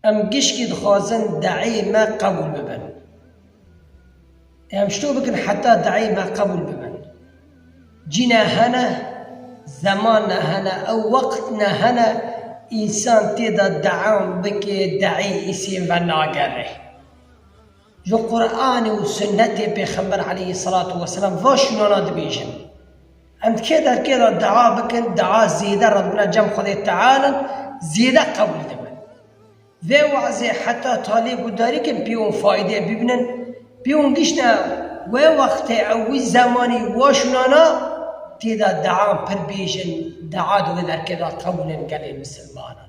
Em gişkî dixwazin deeyê me qebûl bibin. Em şto bikin heta deeyê me qebûl bibin. Cî ne hene, zeman ne hene, ew wext ne hene însan tê de deam bike, deeyê îsên ve nagere. Li Quranê û Sunnetê Pêxember aleyhî selatû weselam va şûnana dibêjin. Em di kê der kê de dua bikin, dua zêde rewna cem Xwedê Teala zêde qebûl dibin. Vê wazê heta talê guhdarî kin pê wan fayde bibînin, pê wan giştine wê wextê ew wî zemanî va şûnana tê de duan pir bêjin, dua di wê derkê de qebûl in gelê misilmanan.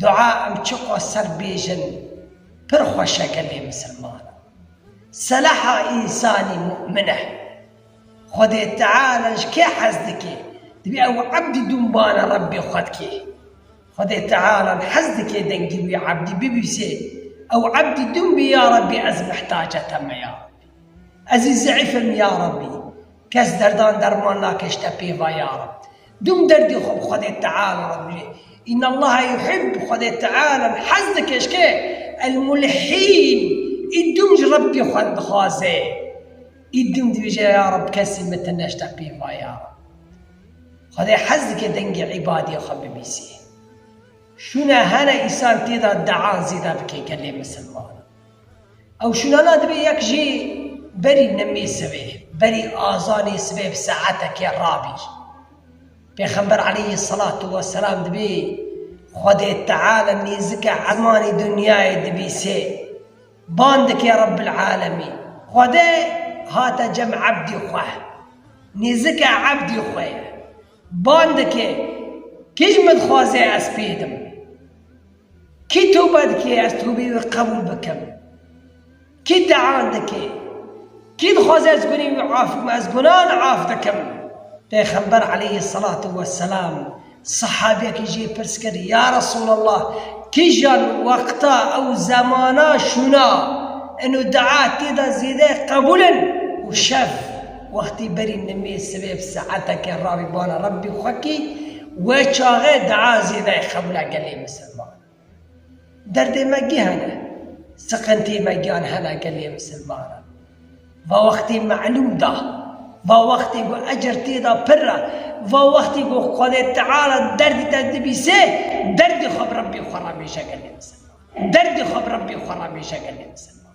Dua ew çi qoser bêjin pir xweş e gelê misilman seleha însanî mu'min e. Xwedê Teala ji kê hez dike divê ew ebdî dûnbana Rebbê xwe dike. Xwedê Teala hez dike dengî wî ebdî bibîsê ew ebdî dûn bê ya Rebbê ez mihtace te me ya Rebbî. Ez î zeîf im ya Rebbî kes derdan derman nake ji te pê va ya Rebbî. Dûm derdê xwe bi Xwedê Teala re bijî. Înallaha yuhîb, Xwedê Teala hez dike eşkê, El-Mulhîn, ê dûm ji Rebbê xwe dixwaze, ê dûm dibêje ya Reb kesî min ti neştepî va ya Reb. Xwedê hez dike dengê îbadê xwe bibîsî. Şûna hene îsan tê de dea zêde bike gelê misilmanan. Ew şûnana divê yek jê berî nimê sibê, berî azanê sibê bi saetekê rabî. Pêxember aleyhî selatû we selam divê Xwedê Teala nêzike emanê dinyayê dibîsê, ban dike Rebbil Alemîn, Xwede hate cem ebdê xwe, nêzike ebdê xwe ye, ban dike kî ji min dixwaze ez pê dim. Kî tûbe dike ez tûbeyê wî qebûl bikim? Kî tean dike? Kî dixwaze ez gunên wî af bikim? Ez gunan af dikim. Pêxember aleyhî selatû weselam sehabiyekî jê pirs kir, Ya Resûlallah, kîjan wexta û zemana şûna in û dua tê de zêde qebûl in? Û şev, wextê berî nimê sibê bi saeteke ravî bana Rebbî xwe kî, We çaxê daa zêdayê xewla gelê misilman. Derdê me gih hene, siqintiyê me giyan hena gelê misilman e. Va wextê melûm da, va wextê ku ecer tê da pirr e, va wextê ku Xwedê Teala derdê te dibîse, derdê xwe bi Rebbê xwe re bêje gelê misilman. Derdê xwe bi Rebbê xwe re bêje gelê misilman.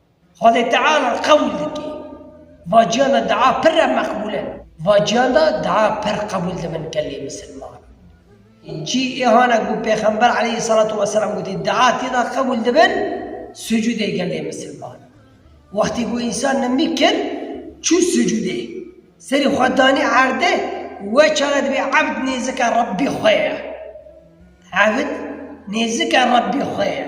Xwedê Teala qebûl dike. Vaciyan de dua pir re meqbûl e. Vaciyan de dua pir qebûl dibin gelê misilman. Cî îhan e ku Pêxember aleyhî selatû weselam gotî dua têda qebûl dibin sucûdê gelê misilman. Wextê ku însan nimî kir çû sucûdê, serî xwe danî erdê, we çare dibê ebd nêzike Rebbî xwe ye. Ebd nêzike Rebbî xwe ye.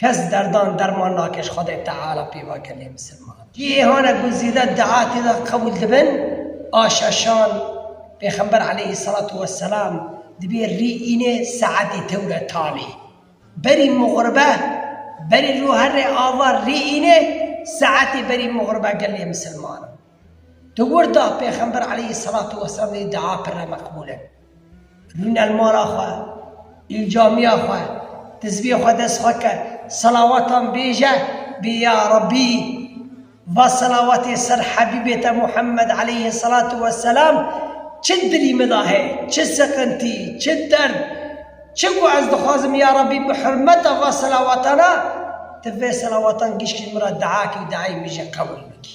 Kes derdan derman nake ji Xwedê Teala pêva gelê misilman. Cîhane ku zêde dua tê de qebûl dibin a şeşan, Pêxember aleyhî selatû weselam dibê rî înê saetê tewre tanê. Berî muxribe berî rû herrê ava rî înê saetê berî muxribe gelê misilman. Di wirda Pêxember aleyhî selatû weselam lê dua pirre meqbûl in. Rûne mala xwe, li camiya xwe, tizviyê xwe dest xwe ke, selawatan bêje, bê ya Rabbî va selawatê ser Hebîbê te Muhemmed aleyhî selatû weselam çi di dilî min de heye, çi siqintî, çi derd, çi ku ez dixwazim ya Rabbî bi hurmeta va selawatana tu vê selawatan gişkî min re dua kî û duayê min jî qebûl bikî.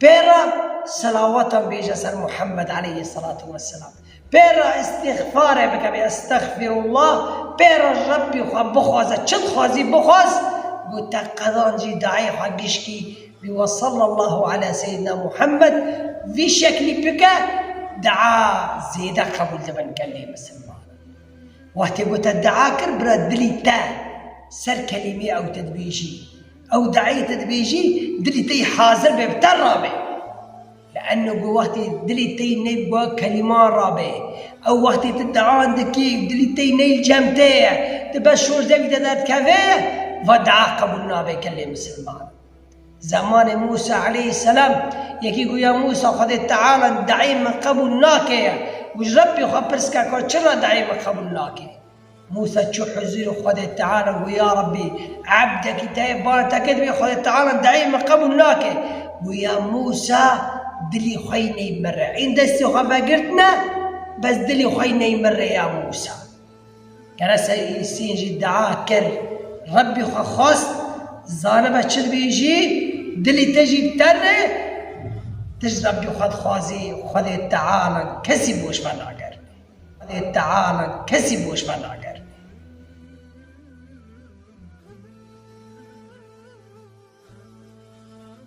Pê re selawatan bêje ser Muhammed aleyhî selatu weselam. Pê re îstîxfarê bike bê estexfîrullah, pê re Rebbî xwe bixwaze çi dixwazî bixwaz ku te qezancî dayê xwe gişkî wî we sallallahu ala seyidina Muhammed vî şeklî bike dua zêde qebûl dibin gelê misilmanan. Wextê ku te dua kir bira dilî te ser kelîmeyê ew te dibêjî. Ew diayete dibêjî dilî te yî hazir be bi te re be. Lianno ku wextê dilê te yî neyb bi kelîman re be. Ew wextê tu dia dikî û dilî te yî neyl cem te ye, tu bes şoşde wî de derdikeve, va dia qebûl nabe gelê misilman. Zemanê Mûsa aleyhîsselam yekî got ya Mûsa Xwedê Teala diayê min qebûl nake ye û ji Rebbê xwe pirs ke ka çi re diayê min qebûl nake? Mûsa çû huzûrê Xwedê Teala û got, Ya Rebbî! Ebdekî te yê bala te kir divê Xwedê Teala dayî min qebûl nake. Got, Ya Mûsa! Dilî xwe yî ney min re. Hîn destê xwe vegirtine, bes dilê xwe yî ney min re ya Mûsa. Kere ser Îsîn jî dua kir, Rebbî xwe xwest, zanibe çi dibêjî, dilê te jî biter re, tişt Rebbî xwe dixwazî, Xwedê Teala kesî boş ve nake. Lê teala kesî boş venagir.